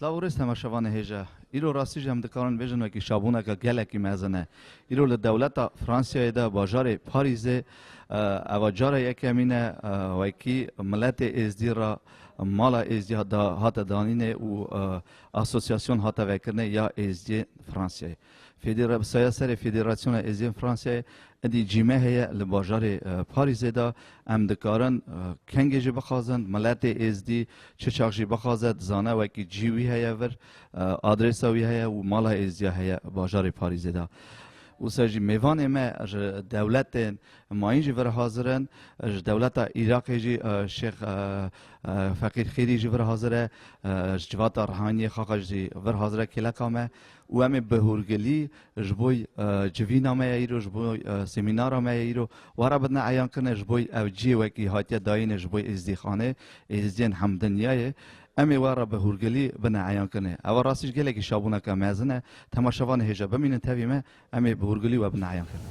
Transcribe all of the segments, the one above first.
Slav û rêz hema şevanê hêja. Îro rastî jî em dikarin bêjin wekî şabûneke gelekî mezin e. Îro li dewleta Fransiyayê de bajarê Parîzê eva cara yekemîn e wekî miletê êzdî re mala êzdî hate danînê û asosiyasyon hate vekirinê ya êzdiyên Fransiyayê. Fêdera bi saya serê Federasyona Êziyên Fransayê êdî cîme heye li bajarê Parîzê de. Em dikarin kengê jî bixwazin. Miletê êzdî çi çax jî bixwaze dizane wekî cî wî heye vir. Adrêsa wî heye û mala êzdîya heye bajarê Parîzê de. Wisa jî mêvanê me ji dewletên mayîn jî vir hazir in. Ji dewleta Îraqê jî Şêx Feqîr Xêrî jî vir hazir e. Ji civata Rihaniyê Xaqaj jî vir hazir e kêleka me. Û em ê bi hûrgilî ji bo civîna me ye îro, ji bo semînara me ye îro, wara bidin eyan kirine ji bo ew cihê wekî hatiye dayîne ji bo Êzidîxanê, Êzidiyên Hemdinyayê, em ê wara bi hûrgilî bine eyan kirine. Ewa rastî ji gelekî şabûneke mezin e. Temaşevanê hêja bimînin tevî me, em ê bi hûrgilî we bine eyan kirine.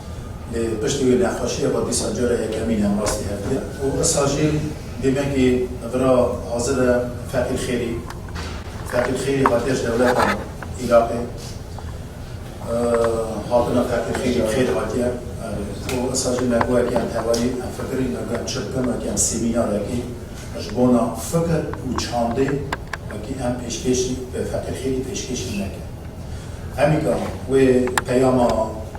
Lê piştî wê nexweşiyê xwe dîsa cara yekemîn e rastî hevdîya û issa jî dîmekî vira hazir e Feqîr Xêrî. Feqîr Xêrî hatiye ji dewleta Îraqê. Hatina Feqîr Xêrî bi xêr hatiye û issa jî me guhekî em tevayî em fikirîn me guhem çi bikim wekî em semînarekî ji bona fikir û çandê wekî em pêşkêşî Feqîr Xêrî pêşkêşî neke. Hemîka wê peyama.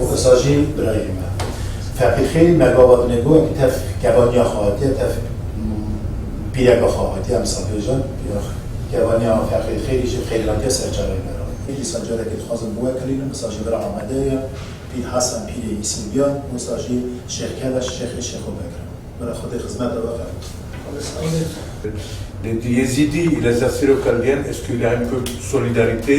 Û esa jî birayê me Feqîxê Mergava binê goya ku tev kevaniya xwe hatiye, tev pîreka xwe hatiye em sabêjin. Kevaniya Feqîxêrî jî xêrê hatiye ser çavên me re. Îsa carekê dixwazim biwekirînim. Îsa jî bira Amedê ye. Pîr Hesen pîrê Îsûbîya û îsa jî Şêx Keleş şêxê Şêxo Bekir e. Bira Xwedê xizmete we qebûl. Yezîdî li Zefîro Keldiyen, Eskîleyên Kurd Solîdarîtê.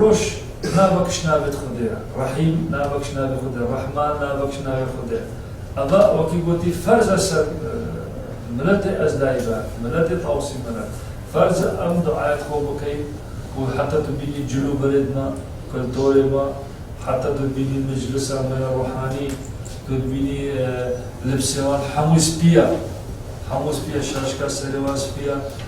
Roj nava kişt navê di xwedê re, Rehîm nava kişt navê xwe de, Rehman nava kişt navê xwe de. Eva wekî gotî ferz e ser miletê ez dayibe, miletê tawsî min e. Ferz e em duaya di xwe bikey ku heta tu bînî cil û berê di me, kultorê me, heta tu bînî meclisa me ya ruhanî, tu dibînî libsê wan hemû spî ye. Hemû spî ye, şaşka serê wan spî ye.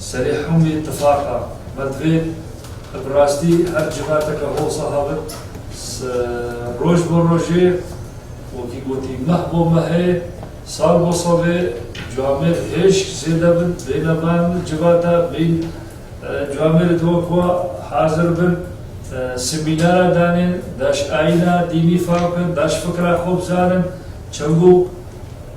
Serê hemûyê tifaqa me divê e bi rastî her civateke Howsa habit roj bo rojê wekî gotî meh bo mehê, sal bo salê camêr hêşk zêde bin bêne van civata bîn camêrê di wek wa hazir bin semînara danên daş ayîna dînî fam bin daş fikra xwe bizanin çembo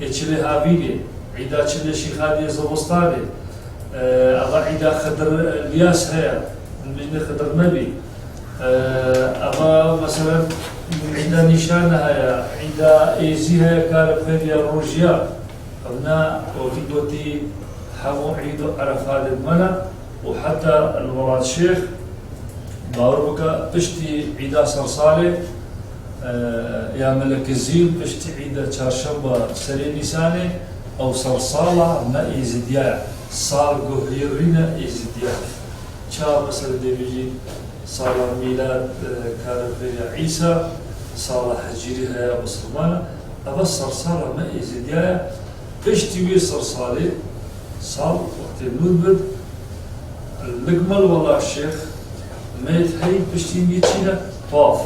Ê çilê havînê, îda çilê şîxaniyê zobostanê, ava îda xidir liyas heye, mînê xidir nebî, ava meselen îda nîşane heye, îda êzî heye kare bixeyde ya rojiya, ev na otî gotî hemû îd û erefatê di me ne û heta li welatşêx, bawer bike piştî îda sersalê, ya Melekezîr piştî îda Çarşemba serê Nîsanê ew sersala me Êzîdiya ye, salguhîrîna Êzîdiyan e. Çawa me serê dê bîjîn? Sala Mîlad Karefêrya Îsa, sala Hecîrî heya Misliman e. Eva sersala me Êzîdiya ye. Piştî wê sersalê sal wextê nû dibit li Gmelwala Şêx, Meyit heyî piştî mî çîne paf.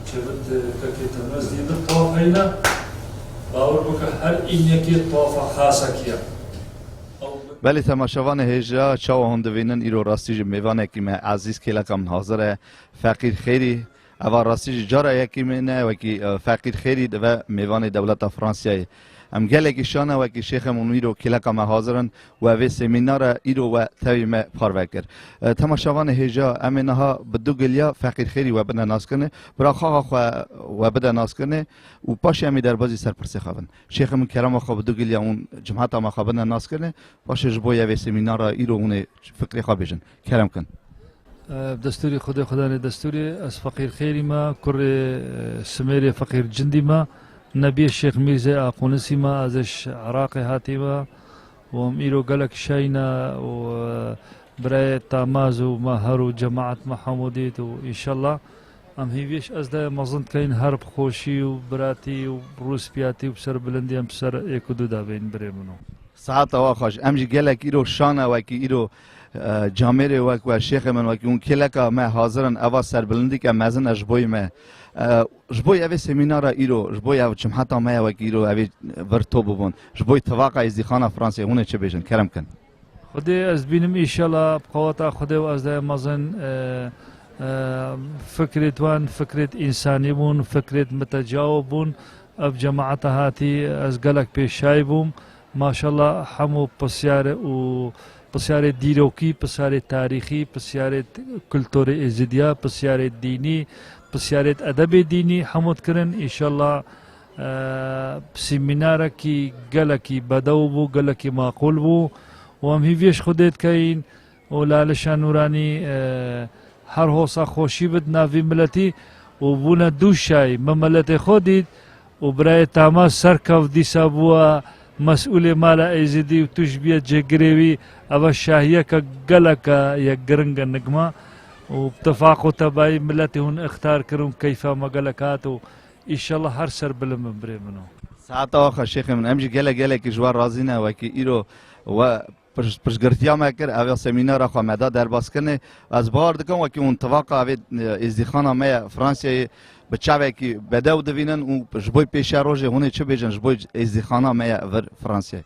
Çevit kekê Temez dîndir paf heyîne. Bawir bike her înyekê pafa Hasekî ye. Ew bi. Belê temaşevanê hêja çawa hûn divînin îro rastî ji mêvanekî me ezîz kêleka min hazir e. Feqîr xêrî. Eva rastî jî cara yekî min e wekî feqîr xêrî dive mêvanê dewleta Fransiyayê. Em gelekî şana wekî Şêxê Munîr û kêleka me hazir in we vê semînara îro we tevî me parve kir. Temaşevanê hêja em ê niha bi du giliya feqîr xêrî we bine naskirnê, bira xaxa xwe we bide naskirnê û paşê em ê derbazî serpirsê xwe bin. Şêxê min kerema xwe bi du giliya hûn cimhata me xwe bine naskirnê, paşê ji bo yê vê semînara îro hûn ê fikrê xwe bêjin. Kerem kin. Destûrî Xwedê Xwedanê Destûrî ez feqîr xêrî me, kurê Simêrê feqîr cindî me, nebiyê Şêx Mîrzê Aqûnisî me, ez ê Iraqê hatî me û em îro gelek şayî ne û birayê Tamaz û me her û cemaet me hemû dît û înşella em hîviyê ji ez de mezin dikeyn her bi xweşî û biratî û rûspiyatî û bi serbilindî em bi ser êk û du de bên birê min o. Sihet awa xweş. Em jî gelek îro şan e wekî îro. Camêrê wek we şêxê min wekî hûn kêleka me hazir in eva serbilindîke mezin e ji bo me. Ji bo evê semînara îro ji bo ev cumheta me ye wekî îro evê vir to bibûn. Ji bo tivaka êzdîxana Fransê hûnê çi bêjin kerem kin. Xwedê ez bînim îşela bi qeweta Xwedê û ez de mezin fikrêt wan fikrêt însanî bûn fikrêt mitecawo bûn ev cemata hatî ez gelek pêşay bûm. Maşalla hemû pisyare û pisyarê dîrokî, pisyarê tarîxî, pisyarê kulturê êzidiya, pisyarê dînî, pisyarê edebê dînî hemû dikirin. Înşalla sîmînarekî gelekî bedew bû, gelekî maqûl bû û em hîvî ji Xwedê dikeyin. û Lalişa Nûranî her hosa xweşî bi di navî miletî û bûne dû şay min miletê xwe dît û birayê Tama Serkav dîsa bûye mesûlê mala Êzidî û tu ji bîye cêgirê wî eve şahiyeke geleke ye giring e nigma û bi tifaq û tebayî miletê hûn ixtar kir û keyfa me gelek hat û îşellah her ser bilind bin birê min û. Saeta wa xwe şêxê min em jî gelek gelekî ji we razî ne wekî îro we Pirsgirtiya me kir, ev ya semînara xwe me da derbaskinê. Ez bawer dikim wekî hûn tivaqa evê êzdîxana me ya Fransayê bi çavekî bedew divînin û ji bo pêşiya rojê hûnê çi bêjin ji bo êzdîxana me ya vir Fransayê.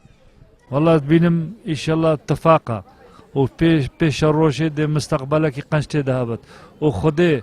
Wela ez bînim îşela tifaqa û pêşiya rojê dê misteqbelekî qenc tê de hebit û xwedê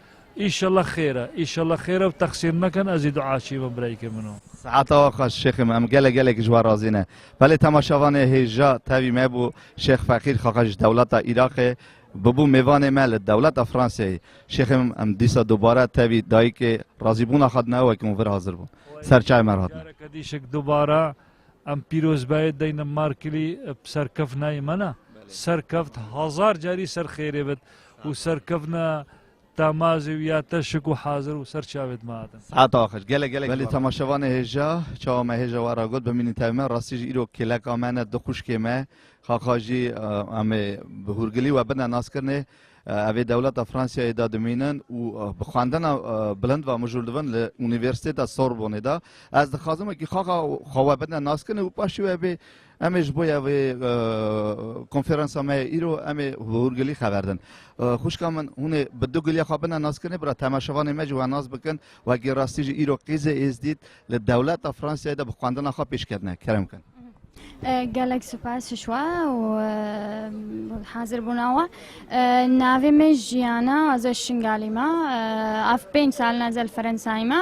Îşallah xêr e. Îşallah xêr e û teqsîr nekin ez jî dua çî bo birayîkê min o. Seata wa xweş şêxê me em gelek gelek ji wan razî ne. Belê temaşevanê hêja tevî me bû Şêx Feqîr Xaxa ji dewleta Îraqê bûbû mêvanê me li dewleta Franseyê. Şêxê min em dîsa dubare tevî dayîkê razîbûna xwe dine wekî hûn vir hazir bûn. Ser çayê me re hatine. Careke dîşik dubare em pîrozbahê deyne Markilî bi serkeftinayê me ne. Serkeft hezar carî ser xêrê bit. û serkevna Tamazê û ya teşik û hazir û ser çavê dima din. Hata xweş. Gelek gelek Belê temaşevanê hêja, çawa me hêja we ra got, bimînî tevî me, rastî jî îro kêleka me ne, du xwişkê me, xaxa jî em ê bi hûrgilî we bine naskirinê, ev ê dewleta Fransiyayê de dimînin û bi xwendina bilind ve mijûl dibin li Unîversîteta Sorbonê de. Ez dixwazim wekî xaxa xwe we bine naskirinê û paşê we bê Em ê ji bo ya vê konferansa me ya îro em ê hûrgilî xeberdin. Xwişka min hûn ê bi du giliya xwe bine naskirinê bira temaşevanê me jî we nas bikin. Wekî rastî jî îro Qîzê Êzdît li dewleta Fransiyayê de bi xwendina xwe pêş ketine. Kerem bikin. Gelek spas ji we û hazirbûna we. Navê me Jiyana ez ê Şingalî me. Ev pênc sal ne ez ê li Ferensayê me.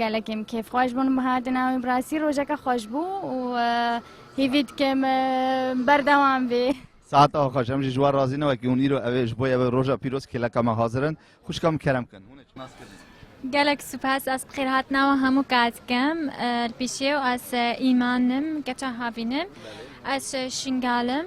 Gelek em kêfxweş bûn bi hatina wî bi rastî rojeke xweş bû û hîvî dikim berdewam bê. Saet a xweş em jî ji wan razî ne wekî hûn îro ev ê ji bo ev roja pîroz kêleka me hazir in. Xwişka min kerem kin hûn ê nas kirin. Gelek spas ez bi xêrhatina wan hemû kar dikim li pêşê û ez îman im keça havîn im ez şingal im.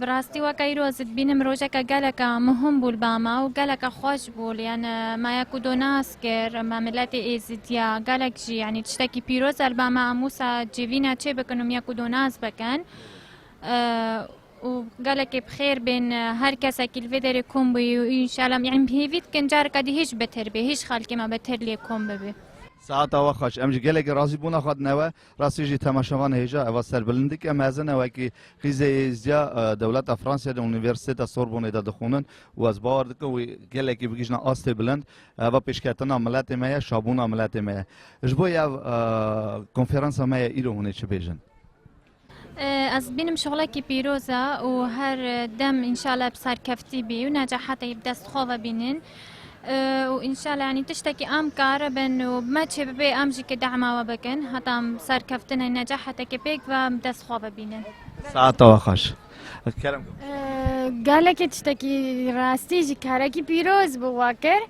Bi rastî weke îro ez dibînim rojeke geleka muhim bû li ba me û geleka xweş bû li yan me ya ku do nas kir me miletê êzidî ya gelek jî yanî tiştekî pîroz e li ba me em wisa civîn ya çê bikin û me ya ku do nas bikin û gelekê bi xêr bên her kesekî li vê derê kom bûyî û înşala yanî bi hêvî dikin careke dî hîş bitir bê hîş xelkê me bitir lê kom bibî. Saeta we xweş. Em ji gelekî razî bûna xwe dine we. Rastî jî temaşevan hêja eva serbilindike mezin e wekî xîzê êzdiya dewleta Fransayê di Unîversîteta Sorbonê de dixwînin û ez bawer dikim wî gelekî bigihîjne astê bilind. Eva pêşketina miletê me ye, şabûna miletê me ye. Ji bo ev konferansa me ye îro hûn ê çi bêjin? Ez dibînim şixulekî pîroz e û her dem înşallah bi serkeftî bî û necahetê bi dest xwe ve bînin. û înşallah yanî tiştekî em kar bin û bi me çê bibe em jî kdema we bikin heta em serkeftin ê necahetekê pêk ve em dest xwe bibînin. Saeta we xweş. Kerem. Gelekî tiştekî rastî jî karekî pîroz bû we kir.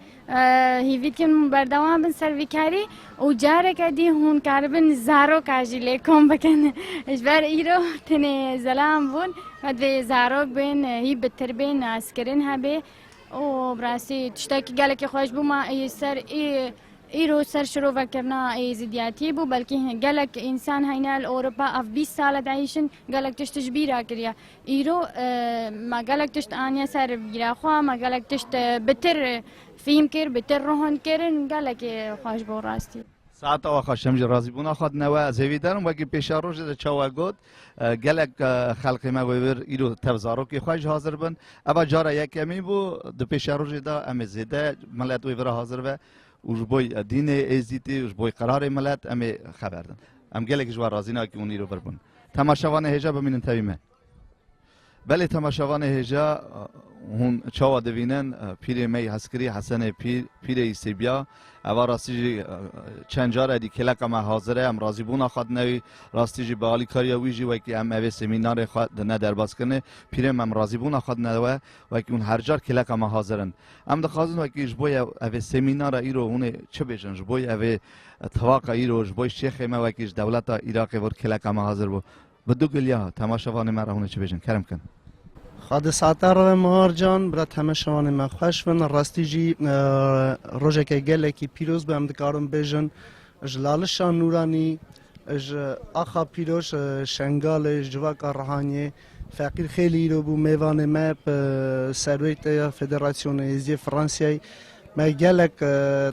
Hîvî dikim berdewam bin ser vî karî û careke dî hûn karibin zaroka jî lê kom bikin. Ji ber îro tenê zelam bûn me divê zarok bên hî bitir bên naskirin hebê. û bi rastî tiştekî gelekî xweş bû ma ê ser ê îro ser şirovekirina ê zîdiyatiyê bû belkî gelek însan heyne li Ewropa ev bîst sal e diêşin gelek tişt ji bîr re kiriye îro me gelek tişt aniye ser bîra xwe me gelek tişt bi tir fîhm kir bi tir rohand kirin gelekî xweş bû rastî. Saeta we xweş em jî razîbûna xwe dine we ez hêvî derim wekî pêşerojê de çawa got Gelek xelkê me wê wir îro tev zarokê xwe jî hazir bin. Eva cara yekemî bû di pêşerojê de em ê zêde milet wê vira hazir be û ji bo dînê êzîdî û ji bo qerarê milet em ê xeber din. Em gelekî ji we razî ne wekî hûn îro vir bûn. Temaşevanê hêja bimînin tevî me. Belê temaşevanê hêja hûn çawa divînin pîrê me yî hezkirî Hesenê Pîr, Pîrê Îsêbîya eva rastî jî çend car edî kêleqa me hazir e em razîbûna xwe dine wî rastî jî bi alîkariya wî jî wekî em evê semînarê xwe dine derbas kirinê pîrê me em razîbûna xwe dine we wekî hûn her car kêleqa me hazir in. Em dixwazin wekî ji bo evê semînara îro hûnê çi bêjin ji bo evê tevaqa îro ji bo şêxê me wekî ji dewleta Îraqê vir kêleqa me hazir bû. Bi du giliya temaşevanê me re hûn ê çi bêjin kerem bikin? Xwe di sata re ve Mihar Can. Bira temaşevanê me xweş bin. Rastî jî rojeke gelekî pîroz bû em dikarin bêjin ji lalişa Nûranî ji axa pîroz Şengalê ji civaka Rihaniyê Feqîr xêlî îro bû mêvanê me bi serweytê ya Federasyona Êzidiyê Fransayê me gelek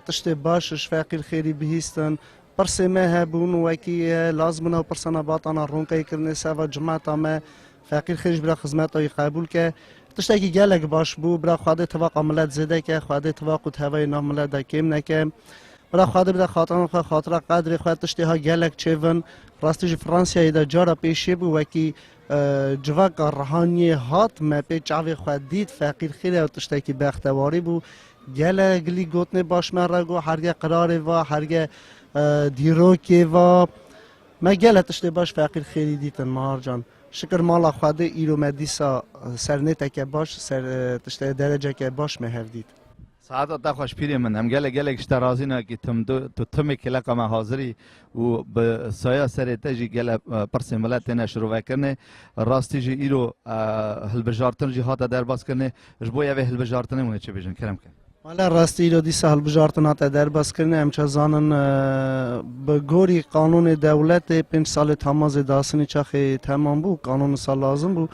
tiştê baş ji Feqîr xêlî bihîstin Pirsên me hebûn wekî lazim bûna û pirsa me batana ronkeyê kirinê ser va cemata me feqîr xêr ji bira xizmeta wî qebûl ke. Tiştekî gelek baş bû. Bira Xwedê tivaqa milet zêde ke, Xwedê tivaq û tevayê nav milet de kêm neke. Bira Xwedê bide xatiran xwe xatira qedrê xwe tiştê ha gelek çêvin. Rastî jî Fransiyayê de cara pêşê bû wekî civaka rihaniyê hat me pê çavê xwe dît feqîr xêr e û tiştekî bextewarî bû. Gele gilî gotinê baş me re got herge qirarê va, herge dîrokê va. Me gele tiştê baş feqîr xêrî dîtin Mehar can. Şikir mala Xwedê îro me dîsa ser nêteke baş, ser tişte dereceke baş me hev dît. Saeta te xweş pîrê min. Em gele gelek ji te razî ne kî tim du, tu timê kêleqa me hazir î û bi saya serê te jî gele pirsên millet têne şirovekirinê. Rastî jî îro hilbijartin jî hate derbas kirinê. Ji bo ya vê hilbijartinê hûn ê çi bêjin kerem ke? Wala rastî îro dîsa hilbijartina te derbas kirine em çi zanin bi gorî qanûnê dewletê pênc salê tamazê dasinî çaxê temam bû qanûn wisa lazim bû.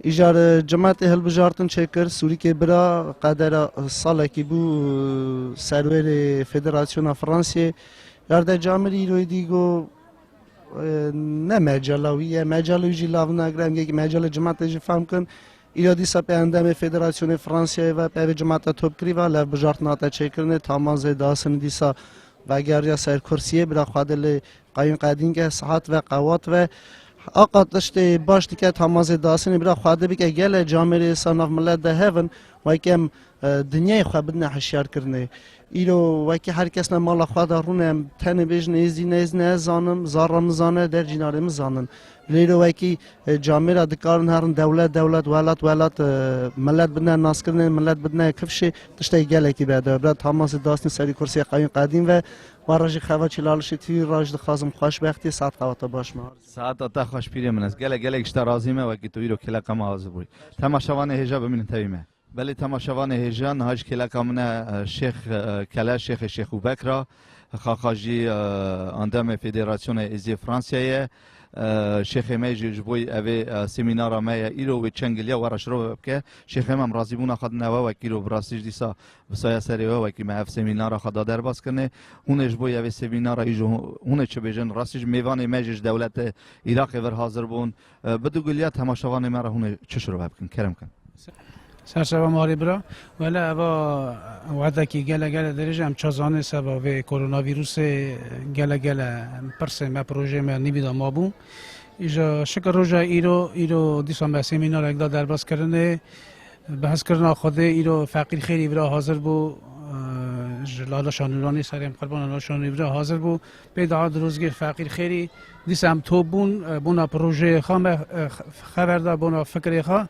Îcar cimetê hilbijartin çêkir Sûrîkê bira qedera salekî bû serwêrê Federasyona Fransiyê yarde camir îroyî dî got ne mecela wî ye mecela wî jî lav nagire em yek mecela cimetê jî fehm kin Îro dîsa pê endamê Federasyonê Fransiyayê ve pevê cemata topkirî ve levbijartina te çêkirinê taman zê diasini dîsa vegeriya ser kursiyê bira xwe de lê qayûn qedînke sihat ve qewat ve Aqa tiştê baş dike taman zê diasini bira xwe de bike gele camêrê îsa nav milet de hevin wekem dinyayê xwe bidine hişyarkirinê Îro wekî her kes ne mala xwe de rûn e, em tenê bêjin êzî nêz nezanim, zarra min zane, dercînarê min zanin. Lê îro wekî camê re dikarin herin dewlet dewlet, welat welat, milet bidine naskirinê, milet bidine kifşê, tiştekî gelekî bi edebe bira Tamasî Dasnî serî kursiyê qewîn qedîm ve Wara jî xever çîlalişê tirî ra ji dixwazim xweşbextî saet xewa te baş ma. Saeta te xweş pîrê min ez gelek gelek ji te razî me wekî tu îro kêleqema ez bûyî. Tema şevanê hêja bimînin tevî me. Belê temaşevanê hêja niha ji kêleka min e Şêx Kele Şêxê Şêxu Bekr a, xaxa jî endamê Federasyonê Êziyê Fransiyayê ye. Şêxê me jî ji bo ev ê semînara me ye îro wê çend giliya we re şirove bike. Şêxê me em razîbûna xwe dine we wek îro bi rastî jî dîsa bi saya serê we wekî me ev semînara xwe da derbas kirine. Hûn ê ji bo ev ê semînara îro hûn ê çi bêjin? Rastî jî mêvanê me jî ji dewleta Îraqê vir hazir bûn. Bi du gulya temaşevanê me re hûnê çi şirove bikin kerem kin. Serşeva marê bira wele eva wedekî gele gele dirêj em çazanê seba vê koronavîrusê gele gele pirsê me projeyê me nîvî da mabû. Îja şikir roja îro îro dîsa me semînarek da derbas kirinê bi hezkirina Xwedê îro feqîr xêrî vira hazir bû ji Lala Şanûranê serê em qurban Lala Şanûrê vira hazir bû Pê da Dirûzgîr Feqîr Xêrî, dîsa em top bûn, bona projeyê xwe me xeber da, bona fikirê xwe.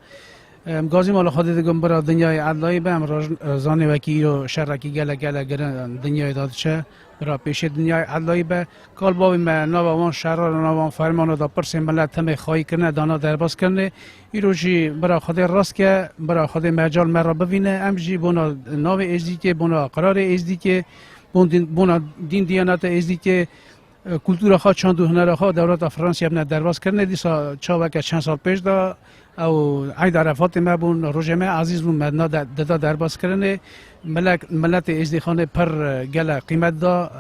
Em gazî mala xwe dê dikin bira dinyayê edlayê be, em rojin zanê wekî îro şerekî gelek gelek girin dinyayê da diçe, bira pêşê dinyayê edlayê be. Kal bavê me nava wan şeran û nava wan fermanan da pirsên milet timê xayî kirine, dana derbas kirine. Îro jî bira xwe dê rast ke, bira xwe dê mecal me re bivîne, em jî bona navê Êzdîkê, bona qirarê Êzdîkê, Bona dîn diyanete êzdîkê kultura xwe çand û hunera xwe dewleta Fransya bine derbas kirine dîsa çaweke çend sal pêş de ew eyda refatê me bûn rojê me ezîz bûn me dida derbas kirinê milek miletê êzdîxanê pir gele qîmet da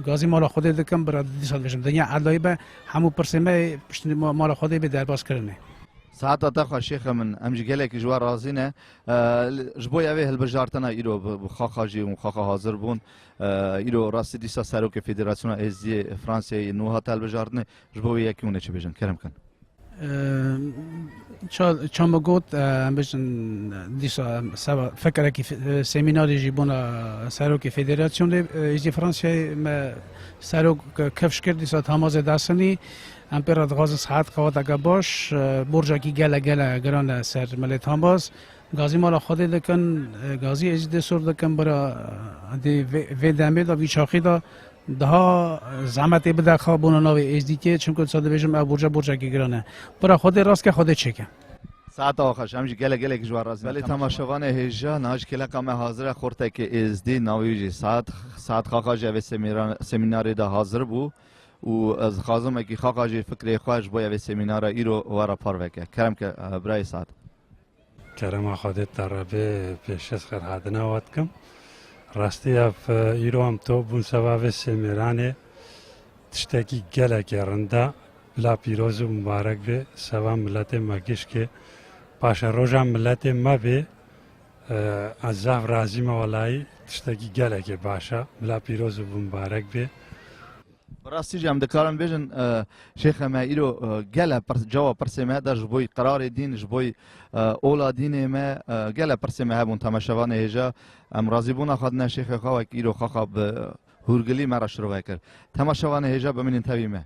gazî mala xwedê dikim bira dîsa dibêjim dinya edayî be hemû pirsê me piştî mala xwedê bê derbas kirinê. Sihata te xweş şêxa min em ji gelekî ji we razî ne Ji bo ya vê hilbijartina îro bi xaxa jî û xaxa hazir bûn îro rastî dîsa serokê Federasyona Êzidiyê Fransayê nû hate hilbijartinê ji bo wê yekî hûn ê çi bêjin kerem kin. Çamba got em bêjin dîsa seba fekerekî semînarê jî bûna serokê Federasyonê Êzidiyê Fransayê me serok kevş kir dîsa Tamaze Dasinî Em pê re dixwazin saet qewateke baş borcekî gele gele giran e ser milê Tambaz. Gazî mala Xwedê dikin, gazî êzî dê sor dikin bira dê vê demê de vî çaxî de daha zehmetê bide xa bona navê êzdîkê çimku disa dibêjim ev borca borcekî giran e. Bira Xwedê rast ke Xwedê çêke. Saeta wa xweş em jî gele gelekî ji we razî ne. Belê temaşevanê hêja niha ji kêleqa me hazir e xortekê êzdî navê wî jî saet saet xaxa jî ev ê semînarê de hazir bû. û ez dixwazim wekî xaqa jî fikrê xwe ji bo ya vê semînara îro we re parve ke. Kerem ke birayê Saad. Kerema Xwedê te re bê pêşez xêrhadina we dikim. Rastî ev îro em top bûn seba vê sêmêranê tiştekî gelekê rind e. Bila pîroz û mibarek bê seba miletê me gişkê. Paşeroja miletê me bê. Ez zaf razî me welayî tiştekî gelekê baş e. Bila pîroz û bimbarek bê. Bi rastî jî em dikarin bêjin şêxe me îro gele cawa pirsê me da ji bo qirarê dîn ji bo ola dînê me gele pirsê me hebûn teme şeva nêhêja em razîbûna xwe dine şêxê xwe wek îro xaxa bi hûrgilî me re şirove kir. Tema şeva nêhêja bimînin tevî me.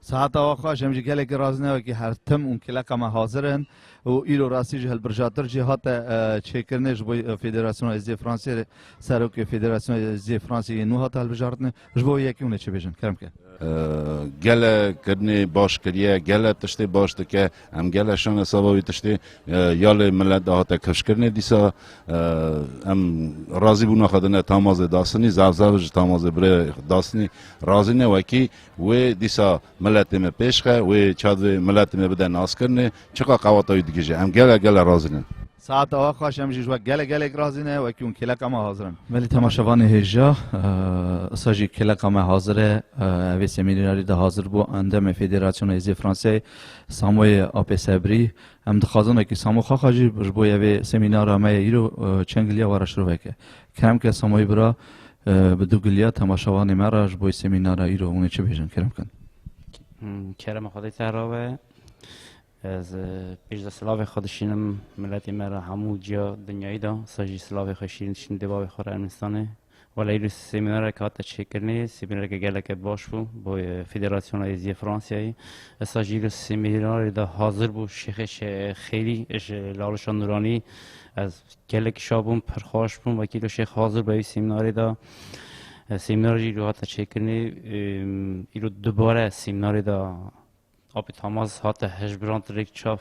Sehata wa xweş em ji gelekî razinewekî her tim û kileqa me hazir in û îro rastî ji hilbirjatir jî hate çêkirinê ji bo Federasyona Êzidiyê Fransiyê re Serokê Federasyona Êzidiyê Fransiyê yên nû hate hilbijartinê. Ji bo wê yekê hûn ê çi bêjin kerem ke? Gele kirinê baş kiriye, gele tiştê baş dike, em gele şan hesaba wî tiştê ya lê milet de hate kifşkirinê dîsa em razî bûna xwe dine tamazê dasinî, zaf zaf ji tamazê birê dasinî razî ne wekî Wê dîsa miletê me pêş xe, wê ça divê miletê me bide naskirinê, çiqas qewata wî dikije. Em gele gele razî ne. Saet awa xweş, em jî ji we gele gelek razî ne, wekî hûn kêleka me hazir in. Belê temaşevanê hêja, îsa jî kêleka me hazir e. Ev ê semînarê de hazir bû Endamê Federasyona Hêzê Franseyê Samoyê Apê Sebrî. Em dixwazin wekî Samo Xaxa jî ji bo yê vê semînara me yê îro çengiliya we re şiroveke. Kerem ke Samoyî bira bi dûgiliya temaşevanê me re ji bo semînara îro hûn ê çi bêjin Kerem ke? Kerem xwedê te ra be. Ez pêş de silavê xwe dişînim miletê me re hemû ciya dinyayî de sa jî silavê xwe şîrîn dişînim dê bavê xwe re Ermenistanê. Wala îro semînareke hate çêkirinê, semînareke geleke baş bû bo Federasyona Êzî ya Fransayê. Ez sa jî îro semînarê de hazir bû Şêxê Xêrî ji Lawrişa Nûranî ez Gelek şa bûn, pir xweş bûn. Wekî îro Şêx hazir be wî semînarê de. Semînar jî îro hate çêkirinê. Îro dubare semînarê de Apê Tamaz hate hejbirand rêk çav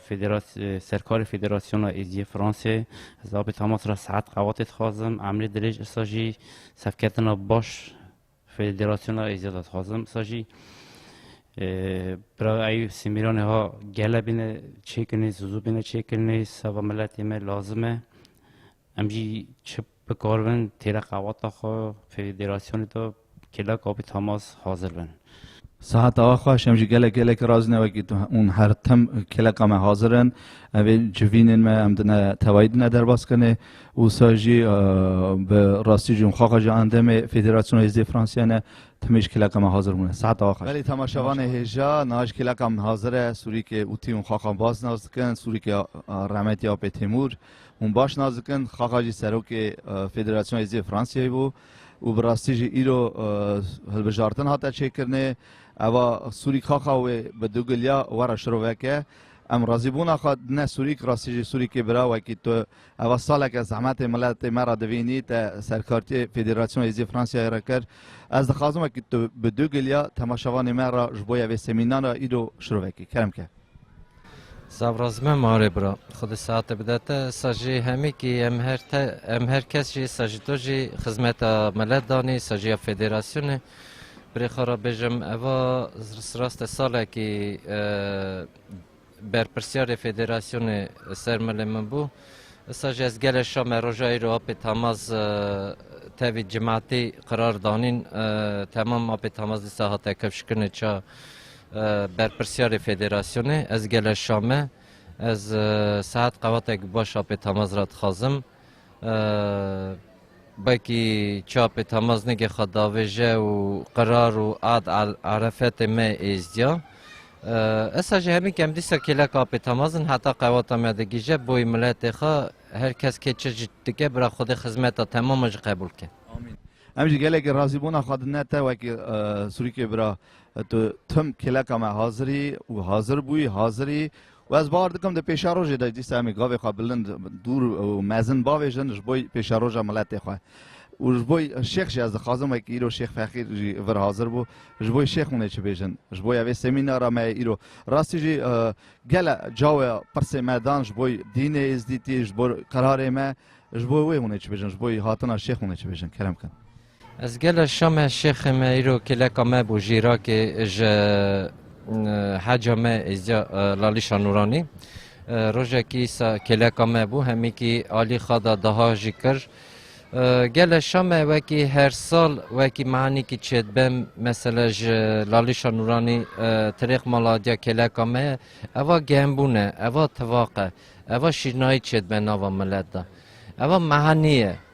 serkarê Federasyona Êzîyê Fransê. Ez Apê Tamaz ra saet qewatê dixwazim. Emrê dirêj îsa jî sevketina baş Federasyona Êzî de dixwazim sa jî Bira Eyûb Sîmîranê ha gele bîne çêkirinê, zûzû bîne çêkirinê seba miletê me lazim e. Em jî çi bikaribin têra qewata xwe federasyonê de kêlek abî temas hazir bin. Sehat Axaş, Em jî gelek gelekî razî ne wekî tu ûn her tim kêleka me hazir in. Em ê civînên me em dine tevayî dine derbas kirinê. Wisa jî bi rastî jî xaxa ji endemê Federasyona Hêzê Fransiya ne timî ji kêleka min hazir bûne. Seheta axa. Belê temaşevanê hêja niha ji kêleka min hazir e. Sûrîkê Utî hûn xaxa Baz nas dikin, sûrîkê Rehmetî Apê Têmûr hûn baş nas dikin. Xaxa jî serokê Federasyona Hêzê Fransiyayê bû û bi rastî jî îro hilbijartin hate çêkirinê. Eva sûrîk xaxa wê bi du giliya were şiroveke. Em razîbûna xwe dine sûrîk, rastî jî sûrîkê bira wekî tu Eva saleke zehmetê miletê me re divînî te serkartiyê Federasyon Hêzî Fransiyayê re kir. Ez dixwazim wekî tu bi du giliya temaşevanê me re ji bo ya vê semînara îro şiro vekî. Kerem ke. Savraz me marê bira. Xwedî seate bide te. Îsa jî hemî kî em her te em her kes jî îsa jî tu jî xizmeta milet danî îsa jî ya federasyonê. Birê xwe re bêjim eva siraste salekî Berpirsyarê federasyonê ser milê min bû. Issa jî ez gelê şa me roja îro apê Tamaz tevî cimatî qirar danîn. Temam apê Tamaz dîsa hate kevşkinê ça berpirsyarê federasyonê. Ez gelê şa me. Ez saet qewatek baş apê Tamaz re dixwazim. Belkî çapê Tamaznigê xwe davêje û qirar û ad erefetê me êzdiya. Esa jî hemî kem dîsa kêlek apê Tamazin heta qewata me digije boyê miletê xwe her kes kê çi jî dike bira Xwedê xizmeta temama jî qebûl bike. Em jî gelekî razîbûna xwe dine te wekî Sûrîkê bira. Tu tim kêleka me hazirî û hazir bûyî, hazirî Û ez bawer dikim di pêşerojê de dîsa em ê gavê xwe bilind, dûr û mezin bavêjin ji bo pêşeroja miletê xwe. Û ji bo şêx jî ez dixwazim wekî îro Şêx Fexîr jî vir hazir bû, ji bo şêx hûn ê çi bêjin. Ji bo ya vê semînara me ye îro. Rastî jî gele cawê pirsê me dan ji bo dînê êzdîtî, ji bo qerarê me, ji bo wê hûn ê çi bêjin, ji bo hatina şêx hûn ê çi bêjin. Kerem bikin. Ez gela Şamê şêxê me îro kêleka me bû ji Îrakê ji heca me êzdiya Lalîşa Nûranî. Rojekî sa kêleka me bû hemîkî alî xada daha jî kir. Gele Şamê wekî her sal wekî mehanîkî çêdibem mesela ji Lalîşa Nûranî tirêx mala diya kêleka me ye. Eva gembûne, eva tivaq e, eva şîrnayî çêdibe nava milet de. Eva mehanî ye.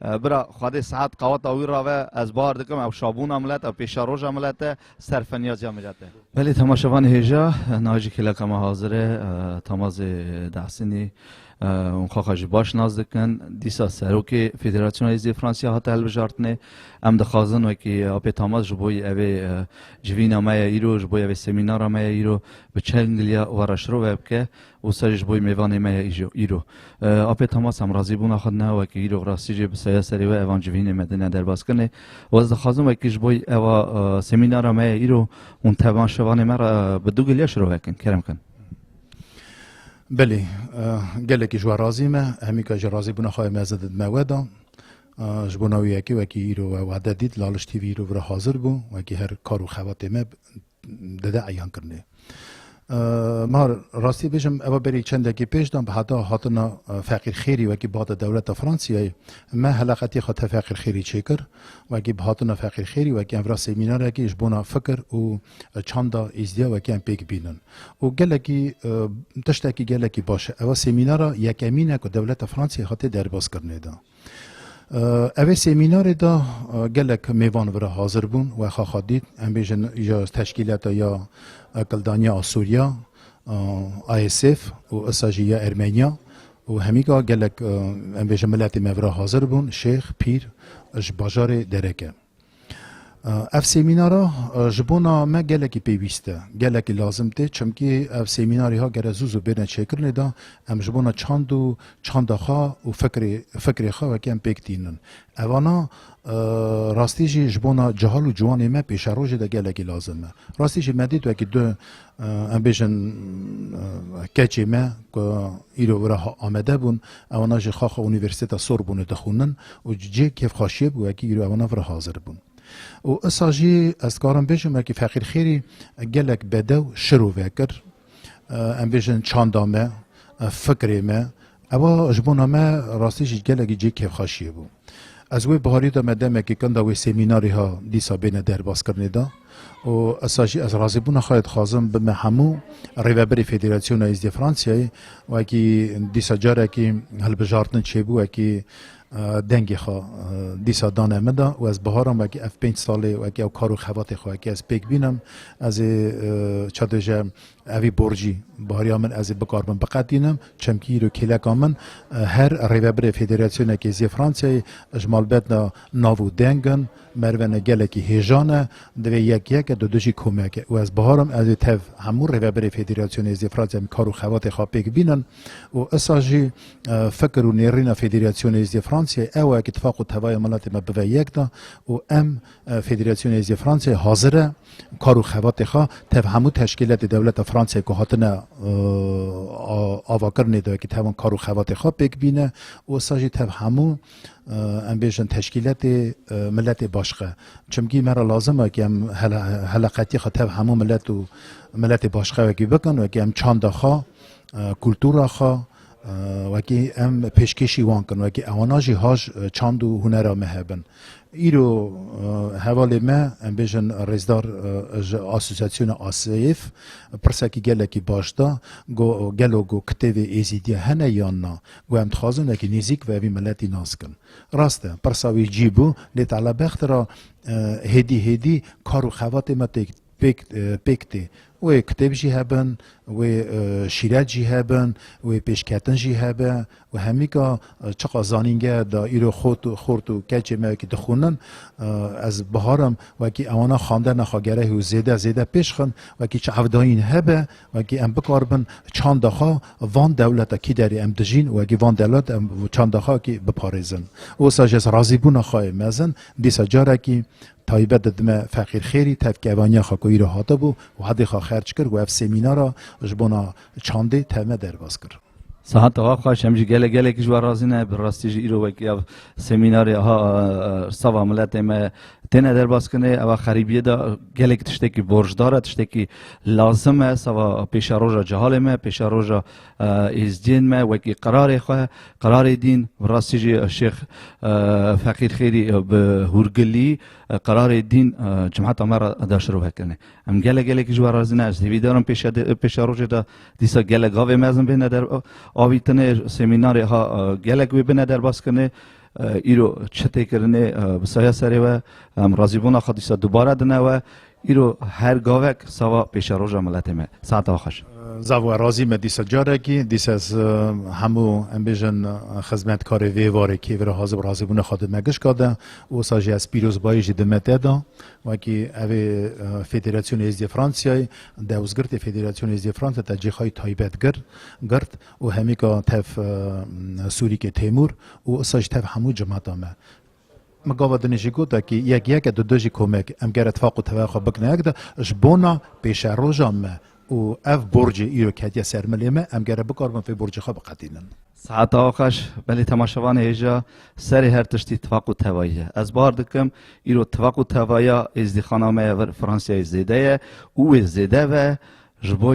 Bira Xwedê Sead qaweta wî rave ez bar dikim ew şabûna milet ew pêşeroja milet e, serfenyaziya milet e. Belê temaşevanê hêja nayê jî kêleka me hazir e, Tamazê Dehsînî hûn xaxa jî baş nas dikin. Dîsa Serokê Federasyona Hêzê Fransîya hate hilbijartinê. Em dixwazin wekî apê Tamaz ji bo evê civîna me ye îro, ji bo evê semînara me ye îro bi çengiliya we re şirove bike. û serî ji bo yê mêvanê me ye îjo, îro. Apê Thomas em razîbûna xwe dine wekî îro rastî jê bi seya serê we evan civînê me dine derbaskirinê û ez dixwazim wekî ji bo ewa semînara me ye îro hûn tev van şevanê me re bi du giliya şiro vekin, kerem bikin. Belê, gelekî ji we razî me, hemîka jî razîbûna xwe em ez didime we de. Ji bo naviyekê wekî îro we wade dît, Laliş TV îro vira hazir bû, wekî her kar û xebatê me Dede eyan kirine. Ma rastî bêjim eva berî çendekî pêş de heta hatina Feqîr Xêrî wekî bihate dewleta Fransîyayê me heleqetî xwe te Feqîr Xêrî çêkir. Wekî bihatina Feqîr Xêrî wekî em vira semînarekî ji bona fikir û çanda êzdîya wekî em pêk bînin. Û gelekî tiştekî gelekî baş e. Eva semînara yekemîn e ku dewleta Fransîyayê hate derbas kirine de. Evê semînarê de gelek mêvan vira hazir bûn we xaxa dît em bêjin ya teşkîlata ya Akildaniya a Sûriya ASF û issa jî ya Ermeniya û hemîka gelek em bêjin miletê me vira hazir bûn şêx, pîr ji bajarê dereke. Ev semînara ji bona me gelekî pêwîst e, gelekî lazim tê çimkî ev semînarê ha gere zû zû bêne çêkirinê de em ji bona çand û çanda xwe û fikirê fikirê xwe wekî em pêk tînin. Evana rastî jî ji bona cihal û ciwanê me pêşerojê de gelekî lazim e. Rastî jî me dît wekî du Em bêjin keçê me ku îro wira Amedê bûn ewana ji xaxa Unîversîteta Sorbonê dixwînin û ji cihê kêfxweşiyê bi wekî îro ewana vira hazir bûn. Û isa jî ez dikarim bêjim wekî Feqîr Xêrî gelek bedew şiro vekir. Em bêjin çanda me, fikrê me, Eva ji bona me rastî jî gelekî cihê kêfxweşiyê bû. Ez wê biharî de me demekê kenda wê semînarê ha dîsa bêne derbazkirinê de û esa jî ez razîbûna xwe dixwazim bime hemû rêveberê Federasyona Êzdiyê Fransiyayê wekî dîsa carekî hilbijartin çêbû wekî dengê xwe dîsa dane min de û ez biharam wekî ev pênc salê wekî ew kar û xebatê xwe wekî ez pêk bînim ez ê çadêje Evî borcî bariya min ez ê bikaribim biqetînim çemkî îro kêleka min her rêvebirê federasyona kêziyê Fransayê ji malbetna nav û deng in. Merve ne gelekî hêjan e, divê yek yek e, du du jî komek e û ez biharim ez ê tev hemû rêvebirê federasyona êziyê Fransayê em kar û xebatê xwe pêk bînin û isa jî fikir û nêrîna federasyona êziyê Fransayê ew e ku tifaq û tevaya miletê me bive yek de û em Federasyona Hêzê Fransayê hazir e kar û xebatê xwe tev hemû teşkîletê dewleta Fransayê ku hatine avakirinê de wekî tevin kar û xebatê xwe pêk bîne û issa jî tev hemû em bêjin teşkîletê miletê başxe. Çimkî me re lazim e ku em heleqetiyê xwe tev hemû milet û miletê başxe wekî bikin wekî em çanda xwe, kultura xwe, Wekî em pêşkêşî wan kirin, wekî ewana jî haj çand û hunera me hebin. Îro hevalê me em bêjin rêzdar ji asosyasyona ASEYF pirsekî gelekî baş da go gelo go kitêvê Êzîdî hene yan na? Go em dixwazin wekî nêzîk ve vî miletî nas kin. Rast e pirsa wî cî bû lê tala bext ra hêdî hêdî kar û xevatê me têk pêk pêk tê. Wê kitêb jî hebin, wê şîret jî hebin, wê pêşketin jî hebe û hemîka çiqa zanîngeh de îro xort û xort û keçê me wekî dixwînin ez biharim wekî ewana xandina xwe gerehî û zêde zêde pêş xin wekî çavdayîn hebe wekî em bikaribin çanda xwe van dewleta kî derê em dijîn wekî van dewleta em çanda xwe wekî biparêzin. Wisa ji ez razîbûna xwe yê mezin dîsa carekî Taybet didime feqîrxêrî tevkevaniya xwe ku îro hatibû Wehedê xwe xerc kir û ev semînara ji bona çandê tevme derbas kir. Sehata wa xweş em jî gelek gelekî ji we razî ne. Bi rastî jî îro wekî ev semînarê aha sava miletê me têne derbaskinê. Ev a xerîbiyê de gelek tiştekî borcdar e, tiştekî lazim e sava pêşeroja cehalê me, pêşeroja Êzdiyên me wekî qerarê xwe, qerarê dîn, bi rastî jî Şêx Feqîr Xêrî bi hûrgilî qerarê dîn cemata me re da şirove kirine. Em gelek gelekî ji we razî ne. Ez hêvî darim pêşa rojê de dîsa gelek gavê mezin bêne der avîtinê, semînarê ha gelek wê bine derbas kirinê. Îro çi tê kirinê bi saya serê we, em razîbûna xwe dîsa dubare dine we. Îro her gavek sava pêşeroja miletê me. Saeta we xweş. Zaf we razî me dîsa carekî. Dîsa ez hemû em bêjin xizmetkarê vê varê kê vira hazir bû razîbûna xwe di me gişka de. Wisa jî ez pîrozbayî jî di me te da. Wekî evê Federasyona Êzidîya Fransiyayê dewzgirtê Federasyona Êzidîya Fransiyayê te cixayî taybet girt. û hemîka tev Sûrîkê Têmûr û îsa jî tev hemû cemata me. Me gava din jî got e kî yek yek e du du jî komek em ger itfaq û tevaya xwe bikne yek de ji bona pêşeroja me û ev borcê îro ketiye ser milê me em gere bikaribin vê borcê xwe biqedînin. Saeta Axaş, belê temaşevanê hêja serê her tiştî tifaq û tevayî ye. Ez bar dikim îro tifaq û tevaya êzdîxana me ya vir Fransiyayê zêde ye û wê zêde ve Ji bo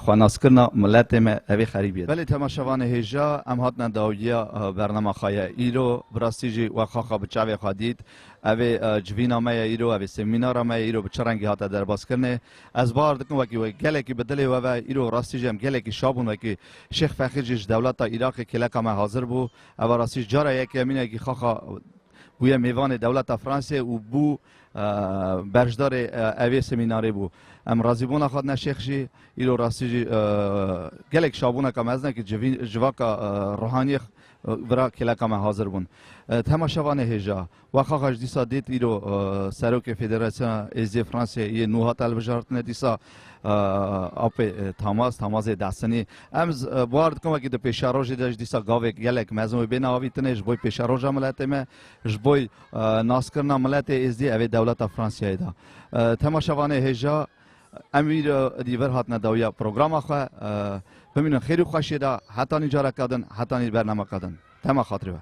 xwanaskirina miletê me evê xerîbiyê. Belê temaşevanê hêja em hatine dawiya bernama xwe ye îro bi rastî jî wek xaxa bi çavê xwe dît evê civîna me ye îro evê semînara me ye îro bi çi rengî hate derbazkirinê ez bar dikim wekî we gelekî bi dilê we ve îro rastî jî em gelekî şa bûn wekî Şêx Fexîr jî ji dewleta Îraqê kêleka me hazir bû eva rastî jî cara yekê mînekî xaxa bûye mêvanê dewleta Fransê û bû Berjdarê evê semînarê bû. Em razîbûna Xadine Şêx jî îro rastî jî gelek şabûneke mezin e ku civaka ruhaniyê vira kêleka me hazir bûn. Di hema şevanê hêja we xaxa ji dîsa dît îro Serokê Federasyona Êzidiyê Fransayê yê nû hat hilbijartine dîsa apê Tamas, Tamazê Dehsinî. Em buar dikin wekî di pêşerojê de ji dîsa gavê gelek mezin wê bêne avîtine ji bo pêşeroja miletê me, ji bo Naskirina miletê Êzdî ev ê dewleta Fransiyayê da. Tema şevanê hêja em wî dî vir hatine dawiya programa xwe bimînin xêrî xweşiyê da hetanî careke din hetanî bernameke din. Tema xatirê we.